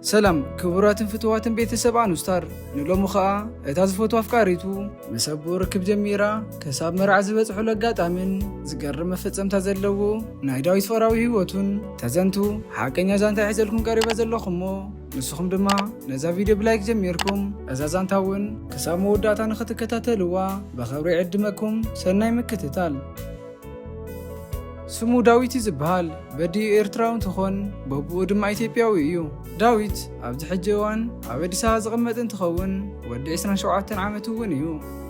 ሰላም ክቡራትን ፍትዋትን ቤተሰብ ኣኑስታር ንሎሚ ኸኣ እታ ዝፈቱ ኣፍቃሪቱ ምስ ኣቦኡ ርክብ ጀሚራ ከሳብ መርዓ ዝበጽሑሉ ኣጋጣምን ዝገርም መፈጸምታ ዘለዎ ናይ ዳዊት ፈራዊ ህይወቱን ተዘንቱ ሓቀኛ ዛንታ ይሕዘልኩም ቀሪበ ዘለኹሞ ንስኹም ድማ ነዛ ቪድዮ ብላይክ ጀሚርኩም እዛ ዛንታ እውን ክሳብ መወዳእታ ንኽትከታተልዋ ብኸብሪ ዕድመኩም ሰናይ ምክትታል ስሙ ዳዊት እዩ ዝበሃል። በዲኡ ኤርትራዊ እንትኾን በቡኡ ድማ ኢትዮጵያዊ እዩ። ዳዊት ኣብዚ ሕጂ እዋን ኣብ ኣዲስ ኣበባ ዝቕመጥ እንትኸውን ወዲ 27 ዓመቱ እውን እዩ።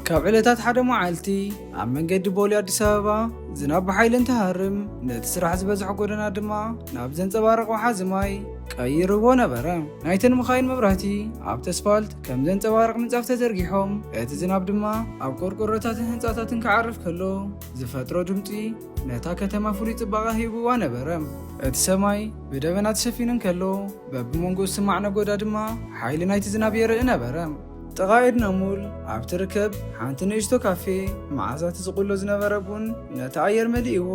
ካብ ዕለታት ሓደ መዓልቲ ኣብ መንገዲ ቦሌ ኣዲስ ኣበባ ዝናብ ብሓይሊ እንትሃርም ነቲ ስራሕ ዝበዝሖ ጎደና ድማ ናብ ዘንፀባርቕ ወሓዚ ማይ ቀይርዎ ነበረ። ናይተን መኻይን መብራህቲ ኣብቲ ኣስፋልት ከም ዘንጸባርቕ ምንጻፍ ተዘርጊሖም፣ እቲ ዝናብ ድማ ኣብ ቆርቆሮታትን ህንጻታትን ክዓርፍ ከሎ ዝፈጥሮ ድምጺ ነታ ከተማ ፍሉይ ጽባቐ ሂብዋ ነበረ። እቲ ሰማይ ብደበና ተሸፊኑ እንከሎ፣ በብመንጎኡ ዝስማዕ ነጎዳ ድማ ሓይሊ ናይቲ ዝናብ የርኢ ነበረ። ጥቓ ኤድና ሞል ኣብ ትርከብ ሓንቲ ንእሽቶ ካፌ፣ መዓዛ እቲ ዝቑሎ ዝነበረ ቡን ነቲ ኣየር መሊእዎ።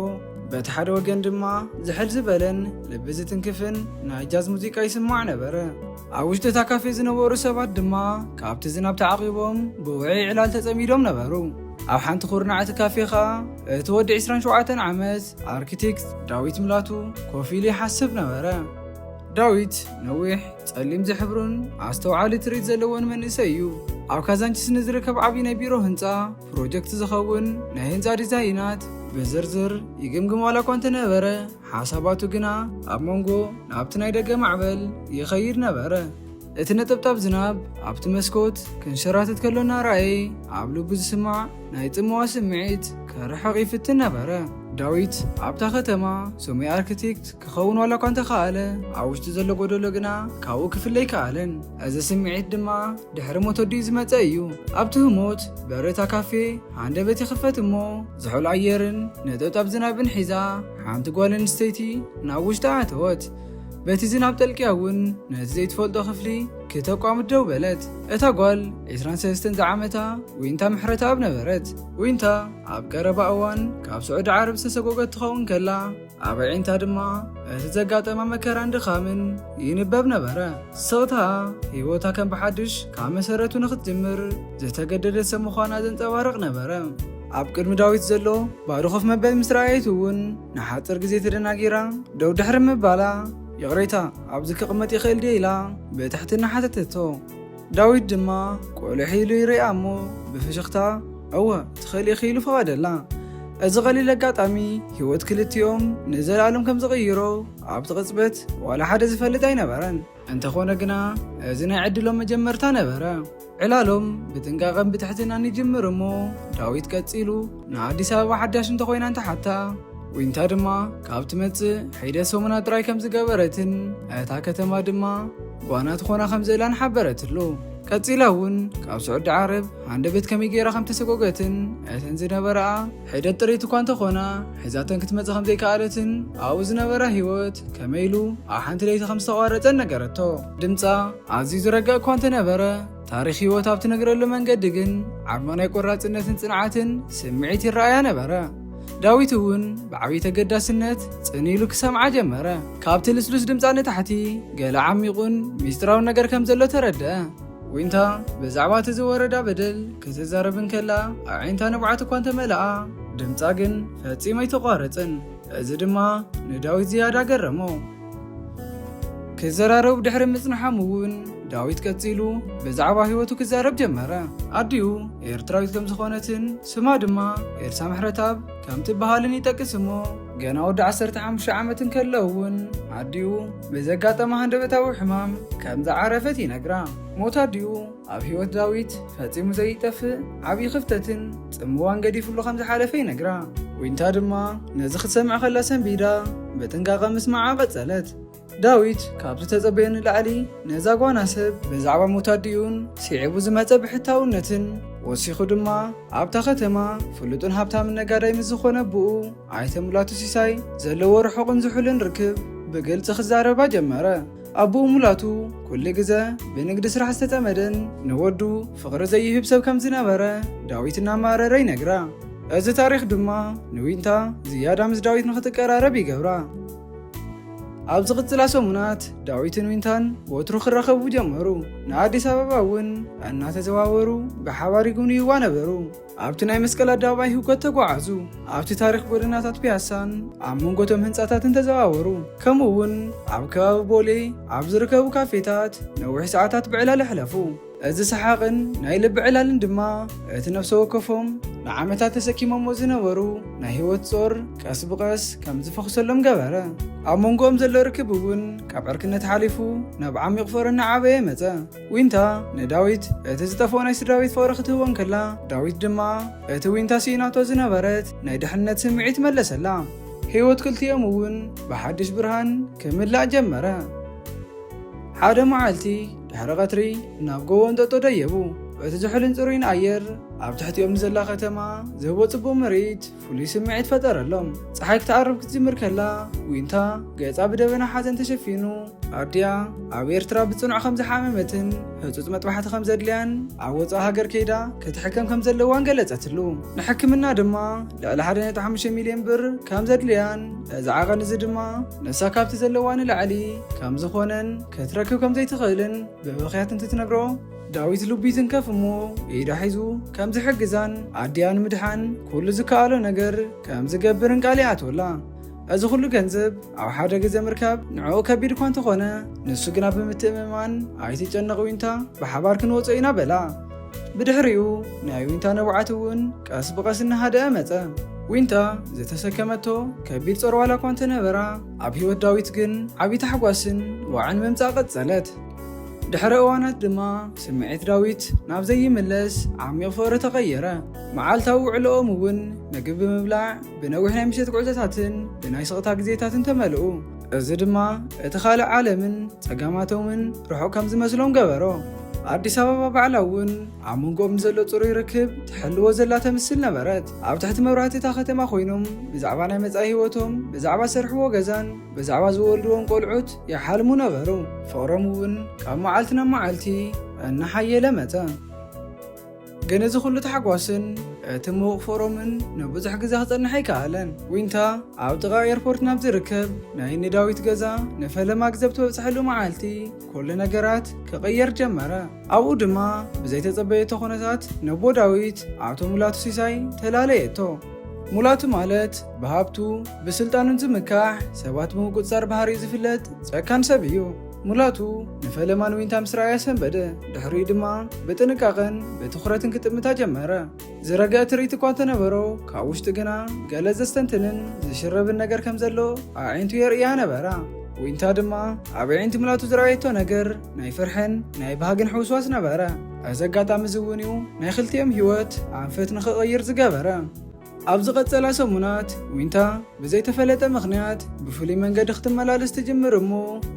በቲ ሓደ ወገን ድማ ዝሕል ዝበለን ልቢ ዝትንክፍን ናይ ጃዝ ሙዚቃ ይስማዕ ነበረ። ኣብ ውሽጢ እታ ካፌ ዝነበሩ ሰባት ድማ ካብቲ ዝናብ ተዓቒቦም ብውዕይ ዕላል ተጸሚዶም ነበሩ። ኣብ ሓንቲ ኩርናዕ እቲ ካፌ ኸኣ እቲ ወዲ 27 ዓመት ኣርክቲክት ዳዊት ምላቱ ኮፍ ኢሉ ይሓስብ ነበረ። ዳዊት ነዊሕ፣ ጸሊም ዝሕብሩን ኣስተውዓሊ ትርኢት ዘለዎን መንእሰይ እዩ። ኣብ ካዛንቺስ ንዝርከብ ዓብዪ ናይ ቢሮ ህንጻ ፕሮጀክት ዝኸውን ናይ ህንጻ ዲዛይናት ብዝርዝር ይግምግም ዋላ እኳ እንተነበረ ሓሳባቱ ግና ኣብ መንጎ ናብቲ ናይ ደገ ማዕበል ይኸይድ ነበረ። እቲ ነጠብጣብ ዝናብ ኣብቲ መስኮት ክንሸራትት ከሎ እናረኣየ ኣብ ልቡ ዝስማዕ ናይ ጽመዋ ስምዒት ከርሕቕ ይፍትን ነበረ። ዳዊት ኣብታ ከተማ ሰሙይ ኣርክቴክት ክኸውን ዋላ እኳ እንተኸኣለ ኣብ ውሽጢ ዘሎ ጎደሎ ግና ካብኡ ክፍለ ኣይከኣለን እዚ ስምዒት ድማ ድሕሪ ሞት ወዲኡ ዝመጸ እዩ። ኣብቲ ህሞት በሪ እታ ካፌ ሃንደበት ይኽፈት እሞ ዝሑል ኣየርን ነጠብጣብ ዝናብን ሒዛ ሓንቲ ጓል ኣንስተይቲ ናብ ውሽጢ ኣተወት። በቲ ዝናብ ጠልቅያ እውን ነቲ ዘይትፈልጦ ክፍሊ ክተቋምት ደው በለት እታ ጓል 23 ዝዓመታ ዊንታ ምሕረተኣብ ነበረት ዊንታ ኣብ ቀረባ እዋን ካብ ስዑዲ ዓረብ ዝተሰጎገት ትኸውን ከላ ኣብ ኣዒንታ ድማ እቲ ዘጋጠማ መከራን ድኻምን ይንበብ ነበረ። ሰውታ ህይወታ ከም ብሓድሽ ካብ መሰረቱ ንኽትጅምር ዝተገደደት ሰብ ምዃና ዘንጸባርቕ ነበረ። ኣብ ቅድሚ ዳዊት ዘሎ ባዶ ኮፍ መበል ምስ ረኣየት እውን ንሓጽር ግዜ ተደናጊራ ደው ድሕሪ ምባላ ይቕሬታ ኣብዚ ክቕመጥ ይኽእል ድየ ኢላ ብትሕትና ሓተተቶ። ዳዊት ድማ ቁልሕ ኢሉ ይርእያ እሞ ብፍሽኽታ እወ ትኽእሊ ኢኺ ኢሉ ፈቐደላ። እዚ ቐሊል ኣጋጣሚ ህይወት ክልቲኦም ንዘለኣለም ከም ዝቕይሮ ኣብቲ ቅጽበት ዋላ ሓደ ዝፈልጥ ኣይነበረን። እንተኾነ ግና እዚ ናይ ዕድሎም መጀመርታ ነበረ። ዕላሎም ብጥንቃቐን ብትሕትናን ይጅምር እሞ ዳዊት ቀጺሉ ንኣዲስ ኣበባ ሓዳሽ እንተኾይና እንተሓታ ዊንታ ድማ ካብ ትመጽእ ሒደት ሰሙናት ጥራይ ከም ዝገበረትን እታ ከተማ ድማ ጓና ትኾና ከም ዘላን ሓበረትሉ ቀጺላ እውን ካብ ስዑዲ ዓረብ ሃንደበት ከመይ ገይራ ከም ተሰጎገትን እተን ዝነበረኣ ሒደት ጥሪት እኳ እንተኾና ሒዛተን ክትመጽእ ከም ዘይከኣለትን ኣብኡ ዝነበራ ህይወት ከመይ ኢሉ ኣብ ሓንቲ ለይቲ ከም ዝተቋረጸን ነገረቶ ድምጻ ኣዝዩ ዝረጋእ እኳ እንተነበረ ታሪኽ ህይወት ኣብ ትነግረሉ መንገዲ ግን ዓርሞ ናይ ቆራፅነትን ፅንዓትን ስምዒት ይረኣያ ነበረ። ዳዊት እውን ብዓብዪ ተገዳስነት ፅን ኢሉ ክሰምዓ ጀመረ። ካብቲ ልስሉስ ድምፃ ንታሕቲ ገለ ዓሚቑን ሚስጥራውን ነገር ከም ዘሎ ተረድአ። ዊንታ ብዛዕባ እቲ ዝወረዳ በደል ክትዛረብ እንከላ ኣዒንታ ንብዓት እኳ እንተመልኣ ድምፃ ግን ፈፂሙ ኣይተቋረፅን። እዚ ድማ ንዳዊት ዝያዳ ገረሞ። ክዘራረቡ ድሕሪ ምጽንሖም እውን ዳዊት ቀጺሉ ብዛዕባ ህይወቱ ክዛረብ ጀመረ። ኣዲኡ ኤርትራዊት ከም ዝኾነትን ስማ ድማ ኤልሳ ምሕረታብ ከም ትበሃልን ይጠቅስ እሞ ገና ወዲ 15 ዓመት እንከሎ እውን ኣዲኡ ብዘጋጠመ ሃንደበታዊ ሕማም ከም ዝዓረፈት ይነግራ። ሞት ኣዲኡ ኣብ ህይወት ዳዊት ፈጺሙ ዘይጠፍእ ዓብዪ ክፍተትን ጽምዋን ገዲፍሉ ከም ዝሓለፈ ይነግራ። ዊንታ ድማ ነዚ ክትሰምዕ ከላ ሰንቢዳ ብጥንቃቐ ምስማዓ ቀጸለት። ዳዊት ካብ ዝተጸበዮ ንላዕሊ ነዛ ጓና ሰብ ብዛዕባ ሞት ኣዲኡን ስዒቡ ዝመጸ ብሕታውነትን ወሲኹ ድማ ኣብታ ከተማ ፍሉጥን ሃብታምን ነጋዳይ ምስ ዝኾነ ኣቦኡ ኣይተ ሙላቱ ሲሳይ ዘለዎ ርሑቕን ዝሑልን ርክብ ብግልጺ ክዛረባ ጀመረ። ኣቡኡ ሙላቱ ኩሉ ግዘ ብንግዲ ስራሕ ዝተጸመደን ንወዱ ፍቕሪ ዘይህብ ሰብ ከም ዝነበረ ዳዊት እናማረረ ይነግራ። እዚ ታሪኽ ድማ ንዊንታ ዝያዳ ምስ ዳዊት ንኽትቀራረብ ይገብራ። ኣብ ዝቕጽላ ሰሙናት ዳዊትን ዊንታን ወትሩ ክራኸቡ ጀመሩ። ንኣዲስ ኣበባ እውን እናተዘዋወሩ ብሓባር ይጉብንይዋ ነበሩ። ኣብቲ ናይ መስቀል ኣደባባይ ህውከት ተጓዓዙ። ኣብቲ ታሪኽ ጎደናታት ፒያሳን ኣብ መንጎቶም ህንፃታትን ተዘዋወሩ። ከምኡ እውን ኣብ ከባቢ ቦሌ ኣብ ዝርከቡ ካፌታት ነዊሕ ሰዓታት ብዕላል ኣሕለፉ። እዚ ሰሓቕን ናይ ልቢ ዕላልን ድማ እቲ ነፍሰ ወከፎም ንዓመታት ተሰኪሞሞ ዝነበሩ ናይ ህይወት ጾር ቀስ ብቐስ ከም ዝፈኽሰሎም ገበረ። ኣብ መንጎኦም ዘሎ ርክብ እውን ካብ ዕርክነት ሓሊፉ ናብ ዓሚቕ ፍቕሪ እናዓበየ መጸ። ዊንታ ንዳዊት እቲ ዝጠፍኦ ናይ ስድራቤት ፍቕሪ ክትህቦ እንከላ፣ ዳዊት ድማ እቲ ዊንታ ስኢናቶ ዝነበረት ናይ ድሕነት ስምዒት መለሰላ። ህይወት ክልቲኦም እውን ብሓድሽ ብርሃን ክምላእ ጀመረ። ሓደ መዓልቲ ድሕሪ ቐትሪ ናብ ጎቦ እንጠጦ ደየቡ። እቲ ዝሑልን ጽሩይን ኣየር፣ ኣብ ትሕቲኦም ንዘላ ከተማ ዝህቦ ጽቡቕ ምርኢት፣ ፍሉይ ስምዒት ፈጠረሎም። ፀሓይ ክትዓርብ ክትጅምር ከላ ዊንታ ገፃ ብደበና ሓዘን ተሸፊኑ ኣዲኣ ኣብ ኤርትራ ብፅኑዕ ከም ዝሓመመትን ህፁፅ መጥባሕቲ ከም ዘድልያን ኣብ ወፃእ ሃገር ከይዳ ክትሕከም ከም ዘለዋን ገለጸትሉ። ንሕክምና ድማ ልዕሊ 1.5 ሚልዮን ብር ከም ዘድልያን እዚ ዓቐን እዚ ድማ ንሳ ካብቲ ዘለዋ ንላዕሊ ከም ዝኾነን ክትረክብ ከም ዘይትኽእልን ብብኽያት እንትትነግሮ ዳዊት ልቡ ይትንከፍ እሞ ኢዳ ሒዙ ከም ዝሕግዛን ኣዲኣ ንምድሓን ኩሉ ዝከኣሎ ነገር ከም ዝገብርን ቃል ይኣትወላ። እዚ ኩሉ ገንዘብ ኣብ ሓደ ግዜ ምርካብ ንዕኡ ከቢድ እኳ እንተኾነ ንሱ ግና ብምትእምማን ኣይትጨነቕ ዊንታ ብሓባር ክንወጾ ኢና በላ። ብድሕሪኡ ናይ ዊንታ ንብዓት እውን ቀስ ብቐስ እናሃደኣ መጸ። ዊንታ ዝተሰከመቶ ከቢድ ጾር ዋላ እኳ እንተነበራ ኣብ ህይወት ዳዊት ግን ዓቢ ታሕጓስን ዋዕን ምምጻእ ቀጸለት። ድሕሪ እዋናት ድማ ስምዒት ዳዊት ናብ ዘይምለስ ዓሚቕ ፍቕሪ ተቐየረ። መዓልታዊ ውዕሎኦም እውን ምግቢ ብምብላዕ ብነዊሕ ናይ ምሸት ጉዕዞታትን ብናይ ስቕታ ግዜታትን ተመልኡ። እዚ ድማ እቲ ካልእ ዓለምን ጸጋማቶምን ርሑቕ ከም ዝመስሎም ገበሮ። ኣዲስ ኣበባ ባዕላ እውን ኣብ መንጎኦም ንዘሎ ጽሩይ ርክብ ትሕልዎ ዘላ ተምስል ነበረት። ኣብ ትሕቲ መብራህቲ እታ ከተማ ኮይኖም ብዛዕባ ናይ መጻኢ ህይወቶም፣ ብዛዕባ ዝሰርሕዎ ገዛን ብዛዕባ ዝወልድዎም ቆልዑት ይሓልሙ ነበሩ፣ ፍቕሮም እውን ካብ መዓልቲ ናብ መዓልቲ እናሓየለ መጸ። ግን እዚ ዅሉ ታሕጓስን እቲ ምዉቕ ፍቕሮምን ንብዙሕ ግዜ ክጸንሕ ኣይከኣለን። ዊንታ ኣብ ጥቓ ኤርፖርት ናብ ዝርከብ ናይ እኒ ዳዊት ገዛ ንፈለማ ግዜ ብትበጽሓሉ መዓልቲ፣ ኩሉ ነገራት ክቕየር ጀመረ። ኣብኡ ድማ ብዘይተጸበየቶ ኩነታት ነቦ ዳዊት ኣቶ ሙላቱ ሲሳይ ተላለየቶ። ሙላቱ ማለት ብሃብቱ ብስልጣኑን ዝምካሕ ሰባት ብምቁፅፃር ባህሪ ዝፍለጥ ጨካን ሰብ እዩ። ሙላቱ ንፈለማን ዊንታ ምስ ረኣያ ሰንበደ። ድሕሪኡ ድማ ብጥንቃቐን ብትኹረትን ክጥምታ ጀመረ። ዝረገ ትርኢት እኳ እንተነበሮ ካብ ውሽጢ ግና ገለ ዘስተንትንን ዝሽረብን ነገር ከም ዘሎ ኣዒንቱ የርእያ ነበራ። ዊንታ ድማ ኣብ ዕንቲ ምላቱ ዝረኣየቶ ነገር ናይ ፍርሕን ናይ ባህግን ሕውስዋስ ነበረ እዚ ኣጋጣሚ እዚ እውን እዩ ናይ ክልቲኦም ህይወት ኣንፈት ንክቕይር ዝገበረ ኣብ ዝቐጸላ ሰሙናት ዊንታ ብዘይተፈለጠ ምኽንያት ብፍሉይ መንገዲ ክትመላለስ ትጅምር እሞ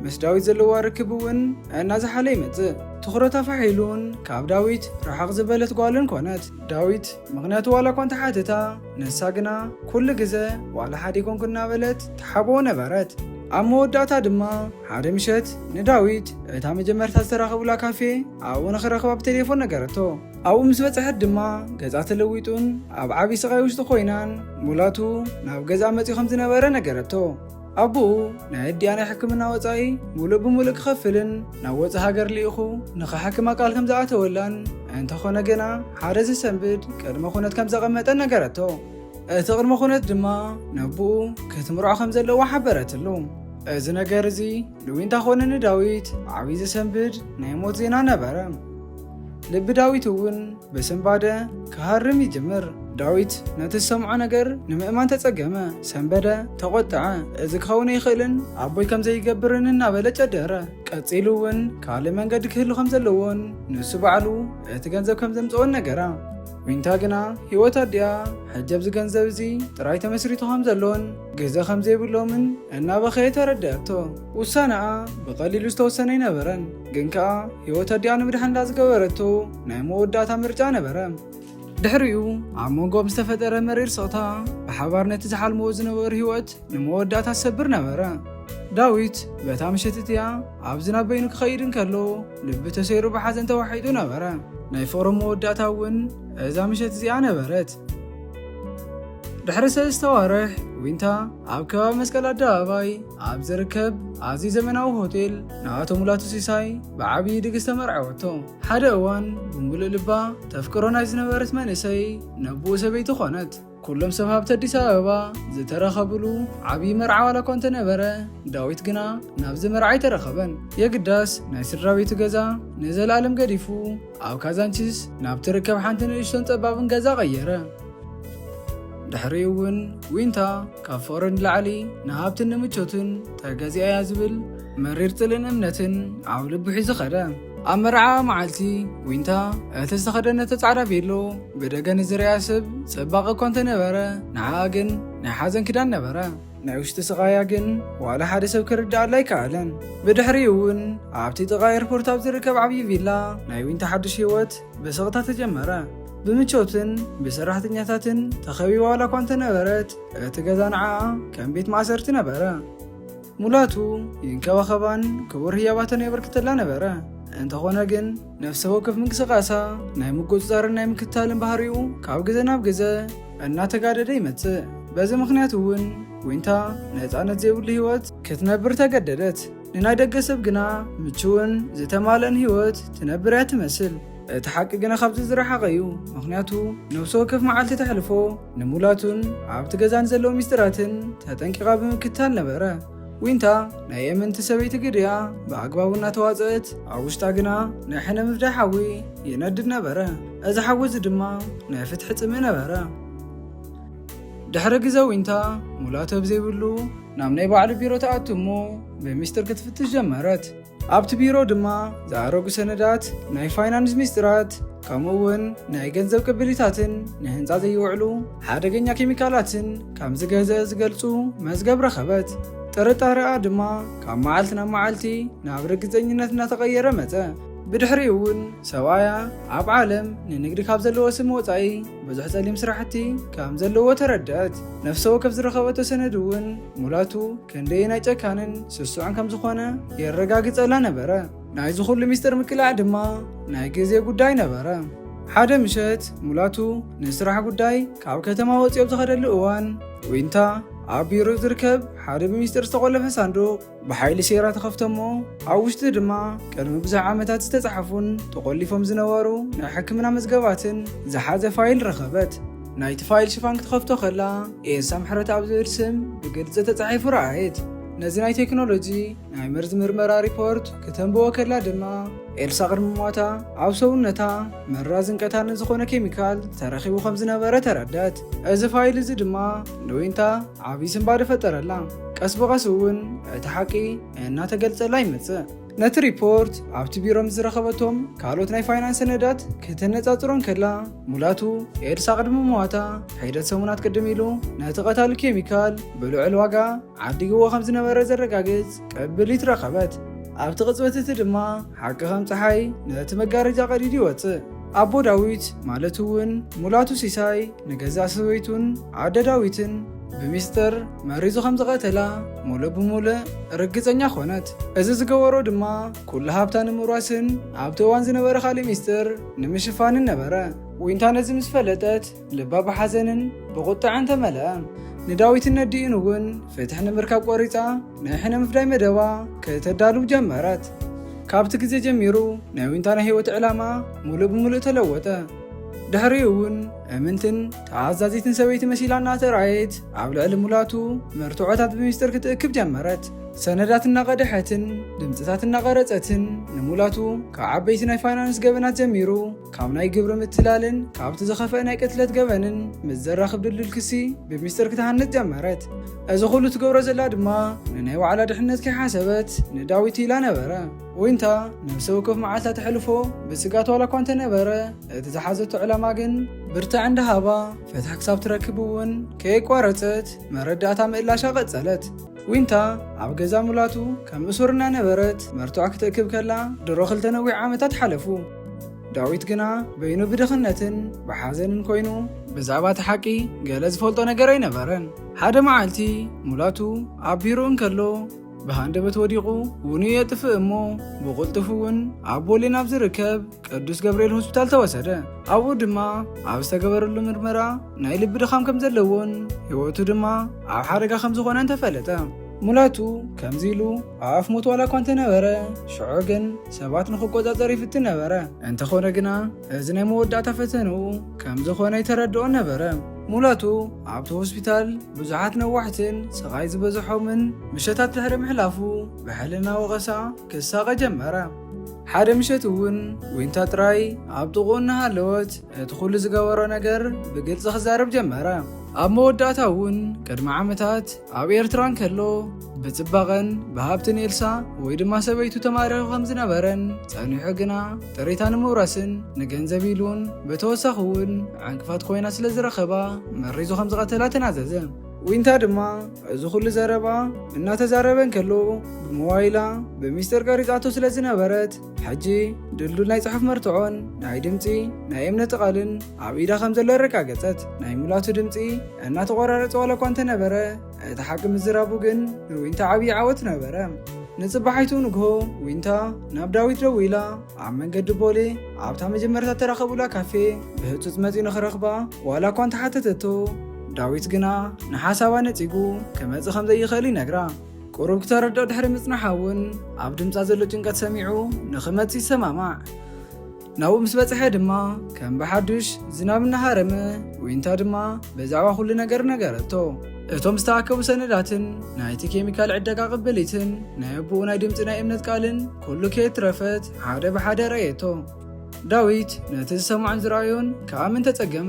ምስ ዳዊት ዘለዋ ርክብ እውን እናዝሓለ ይመጽእ ትኹረታ ፋሒሉን ካብ ዳዊት ርሕቕ ዝበለት ጓልን ኮነት። ዳዊት ምኽንያቱ ዋላ እኳ እንተሓተታ፣ ንሳ ግና ኩሉ ግዘ ዋላ ሓደ ኣይኮንኩን እናበለት ትሓብኦ ነበረት። ኣብ መወዳእታ ድማ ሓደ ምሸት ንዳዊት እታ መጀመርታ ዝተራኸቡላ ካፌ ኣብኡ ንኽረኽባ ብቴሌፎን ነገረቶ። ኣብኡ ምስ በፅሐት ድማ ገፃ ተለዊጡን ኣብ ዓብዪ ስቓይ ውሽጢ ኮይናን ሙላቱ ናብ ገዝኣ መፂኡ ከም ዝነበረ ነገረቶ። ኣቡኡ ናይ ኣዲኣ ናይ ሕክምና ወጻኢ ሙሉእ ብሙሉእ ክኸፍልን ናብ ወጻኢ ሃገር ልኢኹ ንኸሓክማ ቃል ከም ዝኣተወላን እንተኾነ ግና ሓደ ዘሰንብድ ቅድመ ኩነት ከም ዘቐመጠን ነገረቶ። እቲ ቅድመ ኩነት ድማ ነቡኡ ክትምርዖ ከም ዘለዋ ሓበረትሉ። እዚ ነገር እዚ ንዊንታ ኮነ ንዳዊት ብዓብዪ ዘሰንብድ ናይ ሞት ዜና ነበረ። ልቢ ዳዊት እውን ብስንባደ ክሃርም ይጅምር። ዳዊት ነቲ ዝሰምዖ ነገር ንምእማን ተጸገመ፣ ሰንበደ፣ ተቖጥዐ። እዚ ክኸውን ኣይኽእልን፣ ኣቦይ ከም ዘይገብርን እናበለ ጨደረ። ቀጺሉ እውን ካልእ መንገዲ ክህሉ ከም ዘለዎን ንሱ ባዕሉ እቲ ገንዘብ ከም ዘምጽኦን ነገራ። ዊንታ ግና ህይወት ኣዲኣ ሕጂ ኣብዚ ገንዘብ እዚ ጥራይ ተመስሪቱ ከም ዘሎን ግዘ ከም ዘይብሎምን እናበኸየት ኣረድኣቶ። ውሳነኣ ብቐሊሉ ዝተወሰነ ኣይነበረን፣ ግን ከኣ ህይወት ኣዲኣ ንምድሓን እንዳ ዝገበረቶ ናይ መወዳእታ ምርጫ ነበረ። ድሕሪኡ ኣብ መንጎኦም ዝተፈጠረ መሪር ስቕታ ብሓባር ነቲ ዝሓልምዎ ዝነበሩ ህይወት ንመወዳእታ ዝሰብር ነበረ። ዳዊት በታ ምሸት እቲኣ ኣብ ዝናብ በይኑ ክኸይድ እንከሎ ልቢ ተሰይሩ ብሓዘን ተዋሒጡ ነበረ። ናይ ፍቕሮም መወዳእታ እውን እዛ ምሸት እዚኣ ነበረት። ድሕሪ ሰለስተ ኣዋርሕ ዊንታ ኣብ ከባቢ መስቀል ኣደባባይ ኣብ ዝርከብ ኣዝዩ ዘመናዊ ሆቴል ንኣቶ ሙላቱ ሲሳይ ብዓብዪ ድግስ ተመርዐወቶ። ሓደ እዋን ብምሉእ ልባ ተፍቅሮ ናይ ዝነበረት መንእሰይ ነብኡ ሰበይቲ ኾነት። ኩሎም ሰብ ሃብቲ ኣዲስ ኣበባ ዝተረኸብሉ ዓብዪ መርዓ ዋላ እኳ እንተነበረ ዳዊት ግና ናብዚ መርዓ ኣይተረኸበን። የግዳስ ናይ ስድራ ቤቱ ገዛ ንዘለኣለም ገዲፉ ኣብ ካዛንቺስ ናብ ትርከብ ሓንቲ ንእሽቶን ጸባብን ገዛ ቀየረ። ድሕሪኡ እውን ዊንታ ካብ ፍቕሪ ንላዕሊ ንሃብትን ንምቾትን ተገዚኣ እያ ዝብል መሪር ጽልእን እምነትን ኣብ ልቡ ሒዙ ኸደ። ኣብ መርዓ መዓልቲ ዊንታ እቲ ዝተኸደነቶ ጻዕዳ ቬሎ ብደገ ንዝርያ ስብ ጽባቐ እኳ እንተነበረ ንዓኣ ግን ናይ ሓዘን ኪዳን ነበረ። ናይ ውሽጢ ስቓያ ግን ዋላ ሓደ ሰብ ክርድኣላ ኣይከኣለን። ብድሕሪ እውን ኣብቲ ጥቓ ኤርፖርት ኣብ ዝርከብ ዓብዪ ቪላ ናይ ዊንታ ሓድሽ ህይወት ብስቕታ ተጀመረ። ብምቾትን ብሰራሕተኛታትን ተኸቢባ ዋላ እኳ እንተነበረት እቲ ገዛ ንዓኣ ከም ቤት ማእሰርቲ ነበረ። ሙላቱ ይንከባኸባን ክቡር ህያባተን የበርክተላ ነበረ። እንተኾነ ግን ነፍሰ ወከፍ ምንቅስቓሳ ናይ ምቁፅፃርን ናይ ምክትታልን ባህሪኡ ካብ ግዘ ናብ ግዘ እናተጋደደ ይመፅእ። በዚ ምክንያት እውን ዊንታ ነፃነት ዘይብሉ ህይወት ክትነብር ተገደደት። ንናይ ደገ ሰብ ግና ምችውን ዝተማልአን ህይወት ትነብር እያ ትመስል። እቲ ሓቂ ግና ካብዚ ዝረሓቐ እዩ ምክንያቱ ነብሲ ወከፍ መዓልቲ ተሕልፎ ንሙላቱን ኣብቲ ገዛ ንዘለዉ ሚስጢራትን ተጠንቂቓ ብምክትታል ነበረ ዊንታ ናይ የመንቲ ሰበይቲ ግድያ ብኣግባቡ እናተዋፀእት ኣብ ውሽጣ ግና ናይ ሕነ ምፍዳይ ሓዊ ይነድድ ነበረ እዚ ሓዊ እዚ ድማ ናይ ፍትሒ ፅምኢ ነበረ ድሕሪ ግዘ ዊንታ ሙላቶ ብዘይብሉ ናብ ናይ ባዕሉ ቢሮ ተኣቱ እሞ ብሚስጢር ክትፍትሽ ጀመረት ኣብቲ ቢሮ ድማ ዝኣረጉ ሰነዳት፣ ናይ ፋይናንስ ሚስጥራት፣ ከምኡ እውን ናይ ገንዘብ ቅብሊታትን ንህንፃ ዘይውዕሉ ሓደገኛ ኬሚካላትን ከም ዝገዘ ዝገልፁ መዝገብ ረኸበት። ጥርጣረኣ ድማ ካብ መዓልቲ ናብ መዓልቲ ናብ ርግፀኝነት እናተቐየረ መፀ። ብድሕሪኡ እውን ሰብኣያ ኣብ ዓለም ንንግዲ ካብ ዘለዎ ስም ወፃኢ ብዙሕ ፀሊም ስራሕቲ ከም ዘለዎ ተረድአት። ነፍሰ ወከፍ ዝረኸበቶ ሰነድ እውን ሙላቱ ክንደየናይ ጨካንን ስሱዕን ከም ዝኾነ የረጋግጸላ ነበረ። ናይዚ ኩሉ ሚስጥር ምቅላዕ ድማ ናይ ግዜ ጉዳይ ነበረ። ሓደ ምሸት ሙላቱ ንስራሕ ጉዳይ ካብ ከተማ ወፂኦ ዝኸደሉ እዋን ዊንታ ኣብ ቢሮ ዝርከብ ሓደ ብሚስጢር ዝተቆለፈ ሳንዱቕ ብሓይሊ ሴራ ተኸፍቶ እሞ ኣብ ውሽጢ ድማ ቅድሚ ብዙሕ ዓመታት ዝተፃሓፉን ተቆሊፎም ዝነበሩ ናይ ሕክምና መዝገባትን ዝሓዘ ፋይል ረኸበት። ናይቲ ፋይል ሽፋን ክትኸፍቶ ከላ ኤልሳ ምሕረት ኣብ ዝብል ስም ብግልፂ ተፃሒፉ ረኣየት። ነዚ ናይ ቴክኖሎጂ ናይ መርዚ ምርመራ ሪፖርት ክተንብቦ ከላ ድማ ኤልሳ ቅድሚ ሞታ ኣብ ሰውነታ መራዝን ቀታልን ዝኾነ ኬሚካል ተረኺቡ ከም ዝነበረ ተረደት እዚ ፋይል እዚ ድማ ንዊንታ ዓብዪ ስንባደ ፈጠረላ ቀስ ብቐስ እውን እቲ ሓቂ እናተገልጸላ ይመጽእ ነቲ ሪፖርት ኣብቲ ቢሮ ምስ ዝረኸበቶም ካልኦት ናይ ፋይናንስ ሰነዳት ከተነጻጽሮን ከላ ሙላቱ ኤድሳ ቅድሚ ምዋታ ሒደት ሰሙናት ቅድም ኢሉ ነቲ ቀታሊ ኬሚካል ብልዑል ዋጋ ዓዲግዎ ከም ዝነበረ ዘረጋግጽ ቅብሊት ረኸበት። ኣብቲ ቅጽበት እቲ ድማ ሓቂ ከም ፀሓይ ነቲ መጋረጃ ቀዲዱ ይወጽእ። ኣቦ ዳዊት ማለት እውን ሙላቱ ሲሳይ ንገዛእ ሰበይቱን ኣደ ዳዊትን ብሚስጥር መሪዙ ከም ዝቐተላ ሙሉእ ብሙሉእ ርግጸኛ ኮነት። እዚ ዝገበሮ ድማ ኩሉ ሃብታ ንምውራስን ኣብቲ እዋን ዝነበረ ካልእ ሚስጥር ንምሽፋንን ነበረ። ዊንታ ነዚ ምስ ፈለጠት ልባ ብሓዘንን ብቑጥዐን ተመልአ። ንዳዊትን ነዲኡን እውን ፍትሒ ንምርካብ ቆሪጻ ናይ ሕነ ምፍዳይ መደባ ከተዳልው ጀመረት። ካብቲ ግዜ ጀሚሩ ናይ ዊንታ ናይ ህይወት ዕላማ ሙሉእ ብሙሉእ ተለወጠ። ድሕሪኡ እውን እምንትን ተኣዛዚትን ሰበይቲ መሲላ እናተራእየት ኣብ ልዕሊ ሙላቱ መርትዖታት ብሚስጥር ክትእክብ ጀመረት። ሰነዳት እናቐደሐትን ድምፅታት እናቐረፀትን ንሙላቱ ካብ ዓበይቲ ናይ ፋይናንስ ገበናት ጀሚሩ ካብ ናይ ግብሪ ምትላልን ካብቲ ዝኸፍአ ናይ ቅትለት ገበንን ምስ ዘራኽብ ድልዱል ክሲ ብሚስጥር ክትሃንፅ ጀመረት። እዚ ኩሉ ትገብሮ ዘላ ድማ ንናይ ዋዕላ ድሕነት ከይሓሰበት ንዳዊት ኢላ ነበረ። ዊንታ ነብሰ ወከፍ መዓልታ ተሕልፎ ብስጋት ዋላ እኳ እንተነበረ እቲ ዝሓዘቶ ዕላማ ግን ብርትዕ እንዳሃባ ፍትሒ ክሳብ ትረክብ እውን ከየቋረጸት መረዳእታ ምእላሻ ቀጸለት። ዊንታ ኣብ ገዛ ሙላቱ ከም እሱር እናነበረት መርትዖ ክትእክብ ከላ ድሮ ክልተ ነዊሕ ዓመታት ሓለፉ። ዳዊት ግና በይኑ ብድኽነትን ብሓዘንን ኮይኑ ብዛዕባ እቲ ሓቂ ገለ ዝፈልጦ ነገር ኣይነበረን። ሓደ መዓልቲ ሙላቱ ኣብ ቢሮ እንከሎ ብሃንደበት ወዲቑ ውንኡ የጥፍእ እሞ ብቕልጡፍ እውን ኣብ ቦሌ ናብ ዝርከብ ቅዱስ ገብርኤል ሆስፒታል ተወሰደ። ኣብኡ ድማ ኣብ ዝተገበረሉ ምርመራ ናይ ልቢ ድኻም ከም ዘለዎን ህይወቱ ድማ ኣብ ሓደጋ ከም ዝኾነን ተፈለጠ። ሙላቱ ከምዚ ኢሉ ኣፍ ሞት ዋላ እኳ እንተነበረ ሽዑ ግን ሰባት ንክቆፃፀር ይፍትን ነበረ። እንተኾነ ግና እዚ ናይ መወዳእታ ፈተንኡ ከም ዝኾነ ይተረድኦን ነበረ። ሙላቱ ኣብቲ ሆስፒታል ብዙሓት ነዋሕትን ስቓይ ዝበዝሖምን ምሸታት ድሕሪ ምሕላፉ ብሕልና ወቐሳ ክሳቐ ጀመረ። ሓደ ምሸት እውን ዊንታ ጥራይ ኣብ ጥቕኡ እናሃለወት እቲ ኹሉ ዝገበሮ ነገር ብግልፂ ክዛረብ ጀመረ። ኣብ መወዳእታ እውን ቅድሚ ዓመታት ኣብ ኤርትራ እንከሎ ብጽባቐን ብሃብትን ኤልሳ ወይ ድማ ሰበይቱ ተማሪኹ ከም ዝነበረን ጸኒሑ ግና ጥሪታ ንምውራስን ንገንዘብ ኢሉን ብተወሳኺ እውን ዕንቅፋት ኮይና ስለ ዝረኸባ መሪዙ ከም ዝቐተላ ተናዘዘ። ዊንታ ድማ እዚ ኩሉ ዘረባ እናተዛረበ እንከሎ ብሞባይላ ብሚስጥር ቀሪጻቶ ስለ ዝነበረት ሕጂ ድልዱል ናይ ጽሑፍ መርትዖን ናይ ድምፂ ናይ እምነቲ ቃልን ኣብ ኢዳ ከም ዘሎ ኣረጋገጸት። ናይ ሙላቱ ድምፂ እናተቆራረጸ ዋላ እኳ እንተነበረ እቲ ሓቂ ምዝራቡ ግን ንዊንታ ዓብዪ ዓወት ነበረ። ንጽባሒቱ ንግሆ ዊንታ ናብ ዳዊት ደዊላ ኣብ መንገዲ ቦሌ ኣብታ መጀመርታ ተራኸቡላ ካፌ ብህጹጽ መጺኡ ንኽረኽባ ዋላ እኳ እንተሓተተቶ ዳዊት ግና ንሓሳባ ነጺጉ ክመጽእ ከም ዘይኽእል ይነግራ። ቁሩብ ክተረድኦ ድሕሪ ምጽናሓ እውን ኣብ ድምጻ ዘሎ ጭንቀት ሰሚዑ ንኽመጽእ ይሰማማዕ። ናብኡ ምስ በጽሐ ድማ ከም ብሓዱሽ ዝናብ እናሃረመ ዊንታ ድማ ብዛዕባ ኩሉ ነገር ነገረቶ። እቶም ዝተኣከቡ ሰነዳትን ናይቲ ኬሚካል ዕደጋ ቅብሊትን ናይ ኣቦኡ ናይ ድምፂ ናይ እምነት ቃልን ኩሉ ከየትረፈት ሓደ ብሓደ ረእየቶ። ዳዊት ነቲ ዝሰምዖን ዝረኣዮን ከኣ ምን ተጸገመ፣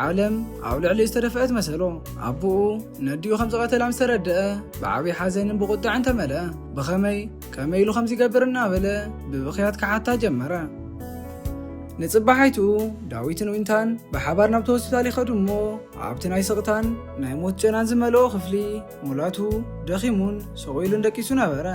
ዓለም ኣብ ልዕሊ ዝተደፍአት መሰሎ። ኣቦኡ ነዲኡ ከም ዝቐተላ ምስ ተረድአ ብዓብዪ ሓዘንን ብቑጥዐን ተመልአ። ብኸመይ ከመይ ኢሉ ከምዚ ይገብር እናበለ ብብኽያት ክሓታ ጀመረ። ንጽባሓይቱ ዳዊትን ዊንታን ብሓባር ናብቲ ሆስፒታል ይኸዱ እሞ ኣብቲ ናይ ስቕታን ናይ ሞት ጨናን ዝመልኦ ክፍሊ ሙላቱ ደኺሙን ስቕ ኢሉን ደቂሱ ነበረ።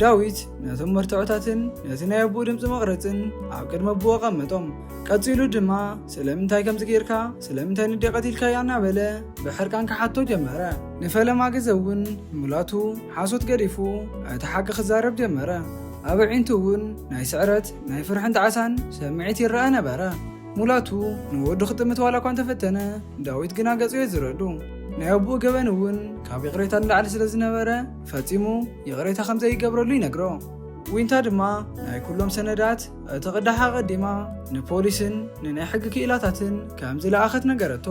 ዳዊት ነቶም መርትዖታትን ነቲ ናይ ኣቦኡ ድምፂ መቕረፅን ኣብ ቅድሚ ኣቦኡ ኣቐመጦም። ቀፂሉ ድማ ስለምንታይ ከምዚ ጌርካ ስለምንታይ ንዴ ቀቲልካያ እናበለ ብሕርቃን ክሓቶ ጀመረ። ንፈለማ ግዘ እውን ሙላቱ ሓሶት ገዲፉ እቲ ሓቂ ክዛረብ ጀመረ። ኣብ ኣዒንቱ እውን ናይ ስዕረት፣ ናይ ፍርሕን ጣዕሳን ስምዒት ይረኣ ነበረ። ሙላቱ ንወዱ ክጥምት ዋላ እኳ እንተፈተነ፣ ዳዊት ግና ገጹ የዝረሉ። ናይ ኣቦኡ ገበን እውን ካብ ይቕሬታ ንላዕሊ ስለ ዝነበረ፣ ፈጺሙ ይቕሬታ ከም ዘይገብረሉ ይነግሮ። ዊንታ ድማ ናይ ኩሎም ሰነዳት እቲ ቅዳሕ ኣቐዲማ ንፖሊስን ንናይ ሕጊ ክኢላታትን ከም ዝለኣኸት ነገረቶ።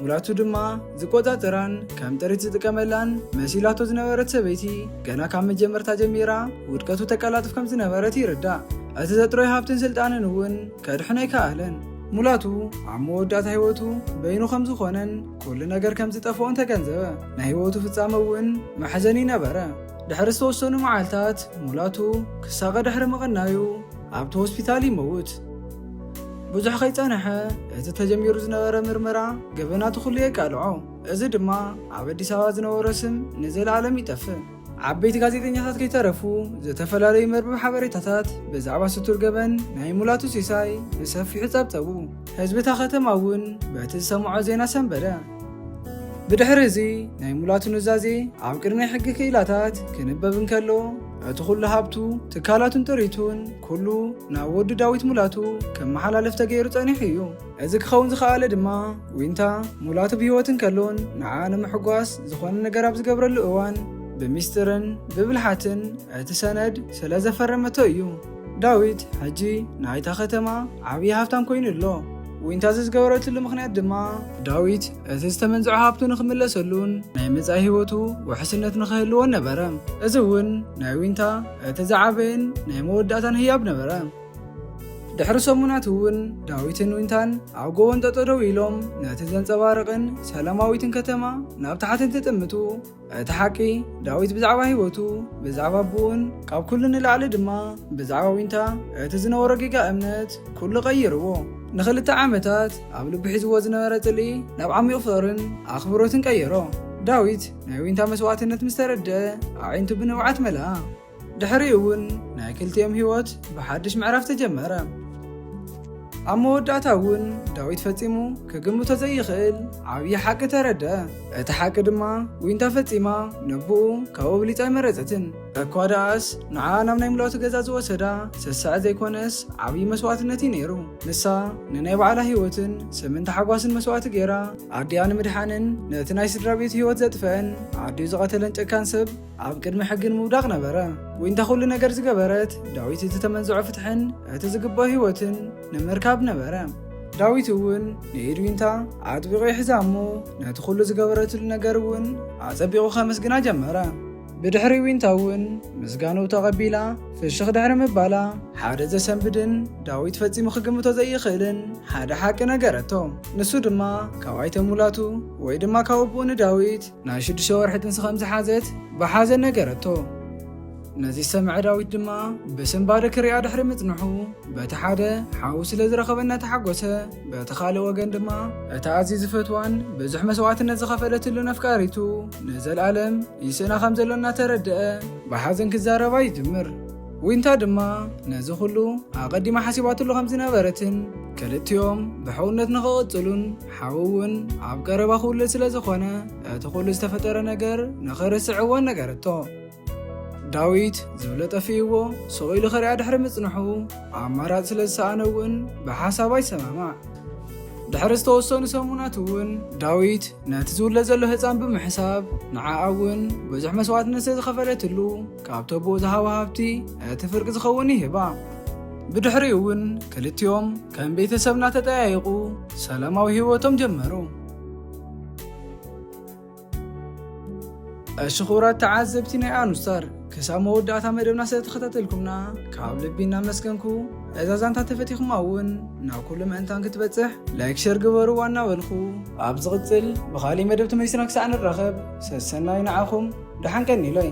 ሙላቱ ድማ ዝቆጻጸራን ከም ጥሪት ዝጥቀመላን መሲላቶ ዝነበረት ሰበይቲ፣ ገና ካብ መጀመርታ ጀሚራ ውድቀቱ ተቀላጥፍ ከም ዝነበረት ይርዳእ። እቲ ዘጥረዮ ሃብትን ስልጣንን እውን ከድሕነይ ከኣለን። ሙላቱ ኣብ መወዳእታ ህይወቱ በይኑ ከም ዝኾነን ኩሉ ነገር ከም ዝጠፍኦን ተገንዘበ። ናይ ህይወቱ ፍጻመ እውን መሕዘኒ ነበረ። ድሕሪ ዝተወሰኑ መዓልታት ሙላቱ ክሳቐ ድሕሪ ምቕናዩ ኣብቲ ሆስፒታል ይመውት። ብዙሕ ከይጸንሐ እቲ ተጀሚሩ ዝነበረ ምርመራ ገበናቱ ኩሉ የቃልዖ። እዚ ድማ ኣብ ኣዲስ ኣበባ ዝነበሮ ስም ንዘለኣለም ይጠፍእ። ዓበይቲ ጋዜጠኛታት ከይተረፉ ዝተፈላለዩ መርበብ ሓበሬታታት ብዛዕባ ስቱር ገበን ናይ ሙላቱ ሲሳይ ብሰፊሑ ጸብጸቡ። ህዝቢ እታ ከተማ እውን በቲ ዝሰምዖ ዜና ሰንበደ። ብድሕሪ እዚ ናይ ሙላቱ ኑዛዜ ኣብ ቅድሚ ሕጊ ክኢላታት ክንበብ እንከሎ እቲ ኩሉ ሃብቱ ትካላቱን ጥሪቱን ኩሉ ናብ ወዱ ዳዊት ሙላቱ ከመሓላለፍ ተገይሩ ጸኒሑ እዩ። እዚ ክኸውን ዝኸኣለ ድማ ዊንታ ሙላቱ ብህይወት እንከሎን ንዓ ንምሕጓስ ዝኾነ ነገር ኣብ ዝገብረሉ እዋን ብሚስጥርን ብብልሓትን እቲ ሰነድ ስለ ዘፈረመቶ እዩ። ዳዊት ሕጂ ናይታ ከተማ ዓብዪ ሃብታም ኮይኑ ኣሎ። ዊንታ እዚ ዝገበረትሉ ምኽንያት ድማ ዳዊት እቲ ዝተመንዝዖ ሃብቱ ንኽምለሰሉን ናይ መጻኢ ህይወቱ ውሕስነት ንኽህልዎን ነበረ። እዚ እውን ናይ ዊንታ እቲ ዝዓበየን ናይ መወዳእታን ህያብ ነበረ። ድሕሪ ሰሙናት እውን ዳዊትን ዊንታን ኣብ ጎቦን ጠጠደው ኢሎም ነቲ ዘንጸባርቕን ሰላማዊትን ከተማ ናብ ታሕቲ እንትጥምቱ እቲ ሓቂ ዳዊት ብዛዕባ ህይወቱ ብዛዕባ ኣቦኡን ካብ ኩሉ ንላዕሊ ድማ ብዛዕባ ዊንታ እቲ ዝነበሮ ጌጋ እምነት ኩሉ ቀይርዎ ንክልተ ዓመታት ኣብ ልቢ ሒዝዎ ዝነበረ ጽልኢ ናብ ዓሚቕ ፍቕርን ኣኽብሮትን ቀየሮ ዳዊት ናይ ዊንታ መስዋእትነት ምስ ተረድአ ኣዒንቱ ብንብዓት መለኣ ድሕሪኡ እውን ናይ ክልቲኦም ህይወት ብሓድሽ ምዕራፍ ተጀመረ። ኣብ መወዳእታ እውን ዳዊት ፈጺሙ ክግምቶ ዘይኽእል ዓብዪ ሓቂ ተረደ እቲ ሓቂ ድማ ዊንታ ፈጺማ ንብኡ ካብኡ ብሊጻ ኣይመረጸትን። እኳ ደኣስ ንዓ ናብ ናይ ምልኦቲ ገዛ ዝወሰዳ ሰሰዐ ዘይኮነስ ዓብዪ መስዋእትነት እዩ ነይሩ። ንሳ ንናይ ባዕላ ህይወትን ስምን ተሓጓስን መስዋእቲ ገይራ ኣዲኣ ንምድሓንን ነቲ ናይ ስድራ ቤቱ ህይወት ዘጥፈአን ዓዲኡ ዝቐተለን ጨካን ሰብ ኣብ ቅድሚ ሕጊ ንምውዳቕ ነበረ። ዊንታ ኩሉ ነገር ዝገበረት ዳዊት እቲ ተመንዝዖ ፍትሕን እቲ ዝግብኦ ህይወትን ንምርካብ ነበረ። ዳዊት እውን ንኢድ ዊንታ ኣጥቢቑ ይሕዛ እሞ ነቲ ኩሉ ዝገበረትሉ ነገር እውን ኣጸቢቑ ከመስግና ጀመረ። ብድሕሪ ዊንታ እውን ምስጋኑ ተቐቢላ ፍሽኽ ድሕሪ ምባላ ሓደ ዘሰንብድን ዳዊት ፈጺሙ ክግምቶ ዘይኽእልን ሓደ ሓቂ ነገረቶ። ንሱ ድማ ካብ ኣይተ ሙላቱ ወይ ድማ ካብ ኣቦኡ ንዳዊት ናይ ሽዱሽተ ወርሒ ጥንሲ ከም ዝሓዘት ብሓዘን ነገረቶ። ነዚ ዝሰምዐ ዳዊት ድማ ብስንባደ ክሪኣ ድሕሪ ምጽንሑ በቲ ሓደ ሓዉ ስለ ዝረኸበ እናተሓጎሰ በቲ ካልእ ወገን ድማ እታ ኣዝዩ ዝፈትዋን ብዙሕ መስዋእትነት ዝኸፈለትሉን ኣፍቃሪቱ ንዘለኣለም ይስእና ከም ዘሎ እናተረድአ ብሓዘን ክዛረባ ይጅምር። ዊንታ ድማ ነዚ ኩሉ ኣቐዲማ ሓሲባትሉ ከም ዝነበረትን ክልቲኦም ብሕውነት ንኽቕጽሉን ሓው እውን ኣብ ቀረባ ክውልድ ስለ ዝኾነ እቲ ኩሉ ዝተፈጠረ ነገር ንኽርስዕ እወን ነገረቶ ዳዊት ዝብሎ ጠፊእዎ ሱቕ ኢሉ ኸሪኣ ድሕሪ ምጽንሑ ኣማራፅ ስለ ዝሰኣነ እውን ብሓሳብ ኣይሰማማዕ ድሕሪ ዝተወሰኑ ሰሙናት እውን ዳዊት ነቲ ዝውለድ ዘሎ ህፃን ብምሕሳብ ንዓኣ እውን ብዙሕ መስዋእትነት ስለ ዝኸፈለትሉ ካብቶ ብኡ ዝሃቦ ሃብቲ እቲ ፍርቂ ዝኸውን ይህባ ብድሕሪኡ እውን ክልቲኦም ከም ቤተሰብ እናተጠያየቑ ሰላማዊ ህይወቶም ጀመሩ። እሺ ክቡራት ተዓዘብቲ ናይ ኣኑስታር ክሳብ መወዳእታ መደብና ስለ ተኸታተልኩምና ካብ ልቢ እናመስገንኩ እዛ ዛንታ ተፈቲኹማ እውን ናብ ኩሉ ምእንታን ክትበፅሕ ላይክ ሸር ግበሩ ዋና በልኹ ኣብ ዝቕፅል ብኻሊእ መደብ ተመሊስና ክሳዕ ንራኸብ ሰሰናይ ንዓኹም ደሓን ቀኒለይ